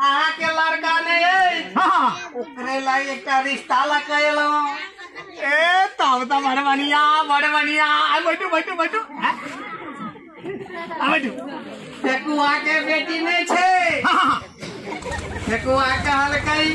अहाँ के लड़का नहीं है हाँ ओकरे ला एकटा रिश्ता ला कैलो ए तब तो बड़ बढ़िया बड़ बढ़िया आ बैठू बैठू बैठू हाँ? आ बैठू फेकुआ के बेटी नहीं छे हाँ हाँ फेकुआ कहल कई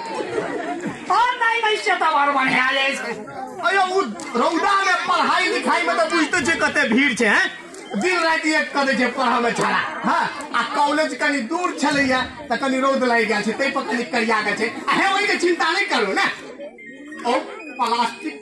और नहीं भाई से तो बार बढ़िया ले अयो उ रौदा में पढ़ाई लिखाई में तो बुझते छे कते भीड़ छे हैं दिन रात एक कर दे छे पढ़ा में छड़ा हां आ कॉलेज कनी दूर छलैया त कनी रौद लागि गेल छे तै पर कनी करिया गेल छे अहे ओइ के चिंता नहीं करू ना ओ प्लास्टिक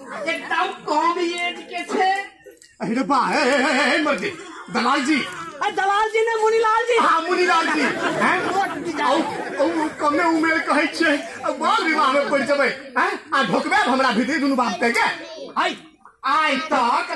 एकदम कम एज के छे अरे बा हे हे हे हे मर गई दलाल जी अरे दलाल जी ने मुनीलाल जी हाँ मुनीलाल जी हैं वोट दी जाए। औ- औ- कमे उमेर कहै छै आ बाल विवाह में पड़ जेबै हैं आ ढोकबे हमरा भीतर दुनू बाप के के आइ आइ तक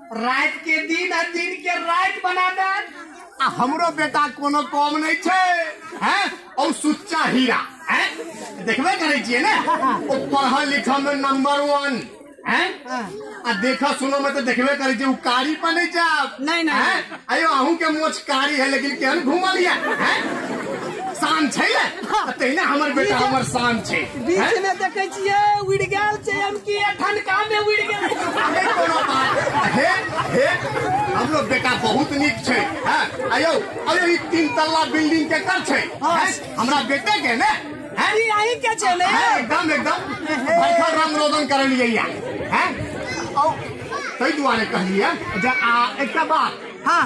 राति के दिन आ दिन के राति बना दे आ हमरो बेटा कोनो कम नहीं छै हैं और सुच्चा हीरा हैं देखबे करै छियै ने ओ पढ़ल लिखल में नंबर वन हैं आ देखा सुनो में तो देखबे करै छियै उ कारी पर नहीं जाब नहीं, नहीं। हैं? अयो अहूँ के मोछ कारी है लेकिन केहन घूमल या हैं? शान छै ने तऽ तहिना हमर बेटा हमर शान छै हैं? बीच में देखे छियै उड़ गेल छै हम की ठनका में उड़ गेल हे कोनो बात हे हे हमरो बेटा बहुत नीक छै हैं? अयो अयो ई तीन तल्ला बिल्डिंग के कर छै हैं? हमरा बेटे के ने अरे यही के छे ने हैं, एकदम एकदम भैखर राम रोदन करे लिए या हैं औ तई दुआरे कहलिए जे आ एकटा बात हाँ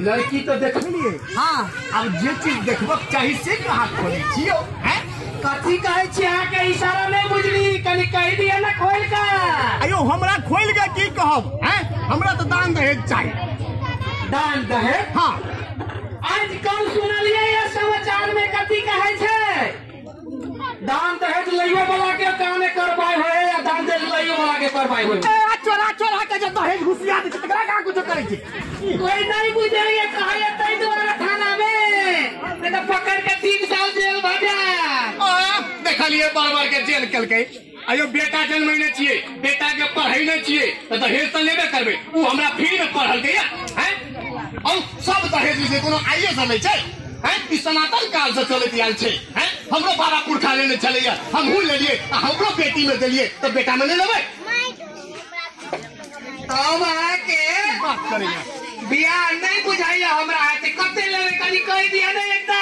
लड़की तो देखलिए हाँ अब जे चीज देखबक चाही से कहाँ खोली छियो हैं कथी कहे छी अहाँ के इशारा नहीं बुझली कनी कह दिया ना खोल का अयो हमरा खोल के की कहब हैं हमरा तो दान दहेज चाहिए दान दहेज हाँ आज कल सुनलिए ये समाचार में कथी कहे छे दान दहेज लइयो वाला के काने करवाई होए या दान दहेज लइयो वाला के करवाई होए ए, आ चोरा चोरा के जे दहेज घुसिया दे छै, तकरा का कुछ करे छी कोई नहीं बुझे ये कहे तई द्वारा थाना में नहीं तो पकड़ के तीन साल जेल भजा आ, देखलिए बार बार के जेल कल गई अयो बेटा जन्मैने छियै बेटा के पढ़ैने छियै तऽ दहेज तऽ लेबे करबै ओ हमरा फ्री में पढ़लकै या हैं औ सब दहेज जे कोनो आइए से लै छै हैं ई सनातन काल से चलैत आयल छै हैं हमरो बाबा पुरखा लेने छलैया हमहूँ लेलियै आ हमरो बेटी में देलियै तऽ बेटा में नहि लेबै हम अहाँके बात करैया बियाह नहि बुझाइया हमरा अहाँके कते लेबै कनि कहि दिअ ने एकटा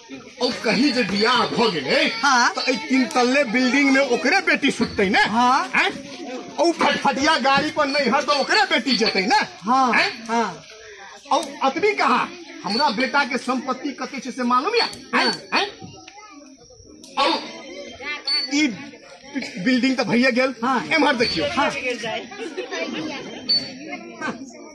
ओ कहीं जे बियाह भ गेले हाँ। त ए तीन तल्ले बिल्डिंग में ओकरे बेटी सुतते ना हाँ। हैं? ओ फटफटिया गाड़ी पर नहीं हर तो ओकरे बेटी जेते ना हाँ हैं? हाँ औ अतबी कहा हमरा बेटा के संपत्ति कते छै से मालूम या हैं? हैं? औ ई बिल्डिंग त भइए गेल हाँ। एम्हर देखियो हाँ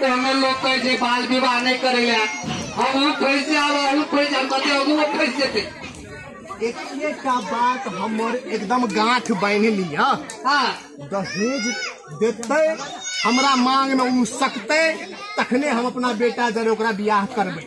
कोनो लोग कहे जे बाल विवाह नहीं करेला हम ऊ फैस से आवा ऊ फैस हम कहते अगू वो फैस से थे एके का बात हमर एकदम गांठ बांध लिया हाँ दहेज देते हमरा मांग में उ सकते तखने हम अपना बेटा जरे ओकरा बियाह करबै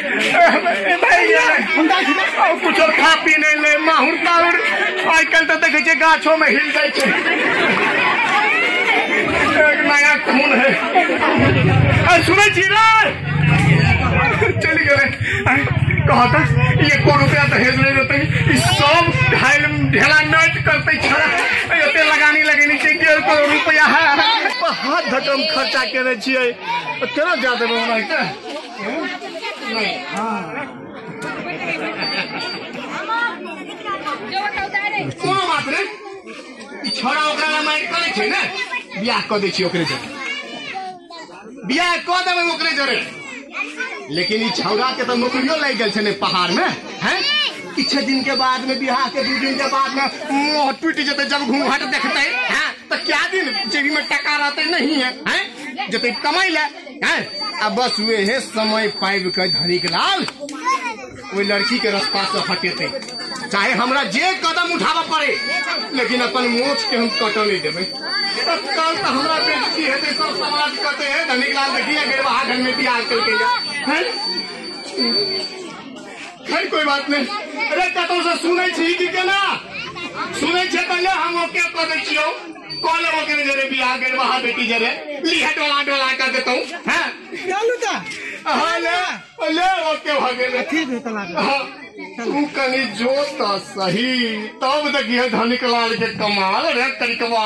कुछो खा पी नहीं ले माहुर ताहुर आइ काल्हि तऽ देखै छै गाछो में हिल जाइ छै एक नया खून है आ, सुनै छी रे चलि गेलै आइ, कहऽ तऽ एको रुपया दहेज नहि देतै ई सब घायल ढेला नट करतै छड़ा एते लगानी लगेने छै डेढ़ करोड़ रुपया है हाथ धकम खर्चा केने छियै केना जा देबै ओना कोनो बात रे ई छोरा ओकरा ला माइक करे छै ने बियाह कऽ दै छी ओकरे जरे बियाह कऽ देबै ओकरे जरे लेकिन ई छौरा के तऽ नौकरियो लागि गेल छै ने पहाड़ में हैं किछु दिन के बाद में बियाह के दू दिन के बाद में मोह टूट जेतै जब घूंघट देखतै हैं तऽ क्या दिन जेबी में टका रहतै नहीं है हैं जेतै कमाई ले हैं? आ बस हुए हे समय पाइब के धनिक लाल ओहि लड़की के रास्ता से हटेते चाहे हमरा जे कदम उठाबऽ पड़े लेकिन अपन मोछ के हम कटऽ नहीं देबै तब कल तो हमरा बेइज्जती हेतै सब समाज कहते हे धनिक लाल देखिए बेरवाह घर में बियाह केलकै या हैं? खैर कोई बात नहीं अरे कतौ से सुनै छी कि केना सुनै छै तऽ ले हम ओके कऽ दै छियौ कऽ लेब ओकर जरे बियाह गेल वहाँ बेटी जरे लिहे डोला डोला कऽ देतौ हैं चलू तऽ हाँ ले ले ओके भऽ गेल ठीक है तलाक हाँ, तू कनी जो तऽ सही तब देखिए धनिक लाल के कमाल रे तनिकवा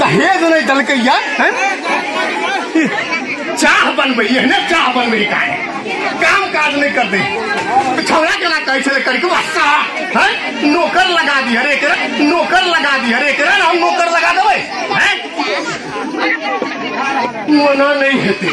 दहेज नहीं दलक चाह बनबे एहने चाह बनबे का काम काज नहीं कर दे छौड़ा केना कहै छलै करके वास्ता हैं नौकर लगा दी हरे एकरा नौकर लगा दी हरे एकरा हम नौकर लगा देबै हैं मना नहीं हेतै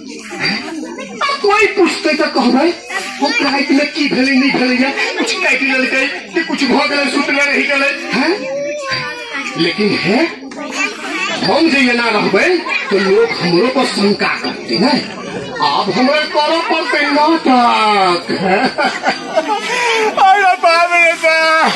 कोई पूछते तो कहबै हम राति में की भेलै नहीं भेलै या कुछ काटि लेलकै कि कुछ भऽ गेलै सुतले रहि गेलै हैं लेकिन है हम जे एना रहबै तो लोग हमरो पर शंका करते ने आब हमरा करऽ पड़तै नाटक अरे बाप रे बाप